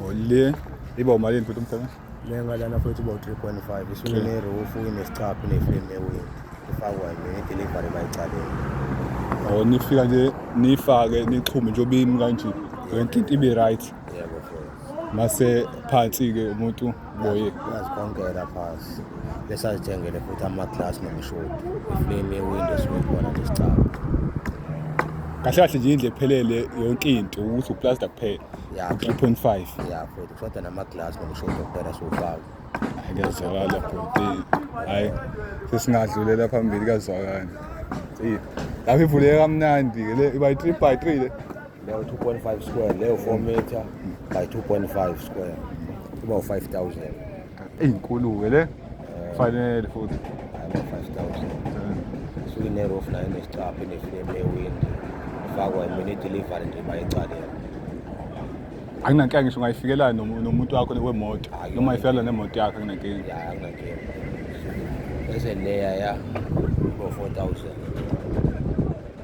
Olé. E bom, Marinho, tudo bem? Lenga lana futhi bo 3.5 isule ne roof inesicaphu ne frame ne wing ifakwa yini delivery bayicaleni oh nifika nje nifake nixhume nje obimi kanje yonke into ibe right yebo mase phansi ke umuntu boye uyazikhonkela phasi besazithengele futhi ama-glass nomshodi iflame ye-window siwekhona nesicaba kahle kahle nje indle ephelele yonke into ukuthi uplaster kuphela Ya, u-three point five ya futhi kushoda nama-glass nomshodi okuphela siwufaka kuyazwakala bhuti hhayi sesingadlulela phambili kuyazwakala Eyi, lapho ivuleke kamnandi-ke le iba yi-three by three le leyo 2.5 square leyo 4 meter by 2.5 square kuba u-5000 eyinkulu-ke le kufanele futhi ama-5000 suke inerof nayo nesicapha inefilemu ewindi ifakwa imini idelivery nje bayicalele anginankinga ngisho ungayifikela nomuntu wakho wemoto noma ifikela nemoto yakho anginankinga ya anginankinga bese leya ya ngo-4000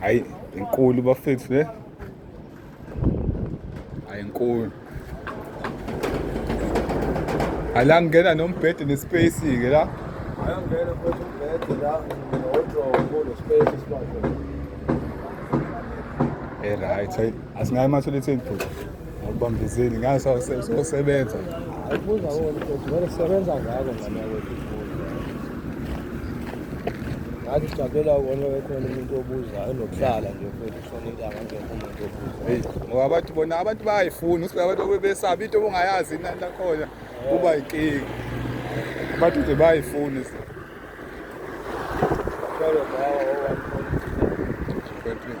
hayi inkulu bafethu le hayi inkulu ala ngena nombhede nespace ke la ayangena futhi umbhede la nodrobo nespace sibakho e right asingayi matholethe iphutha Awubambezeli ngayo sosebenza. Awubuza wona ukuthi vele sebenza ngako ngane wethu. Ngathi ujabulela wona wekhona umuntu obuza enokuhlala nje futhi kusona into angangekho umuntu obuza. Hey, ngoba abantu bona abantu bayayifuna usibe abantu obebesaba into obungayazi inani lakhona kuba inkinga. Abantu nje bayayifuna izinto. Kodwa bawa owa. Kodwa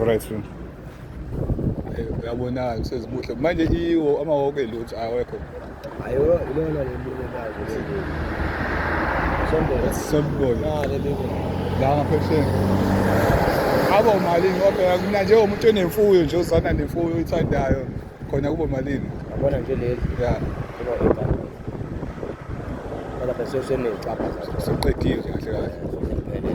Alright sir. Eh, uyabonakala usezibuhle manje iwo amawoko elutho awekho Ayo ilona lembulekazi leli. Sombona. sembona Ah leli. la ngaphesheni abo malini kodwa mina njengomuntu onemfuyo nje uzana nemfuyo oyithandayo khona kubo malini Yabona nje leli. ya Kuba igama. Kodwa bese usenecapha zazo. soqedile kahle kahle Sokuphelele.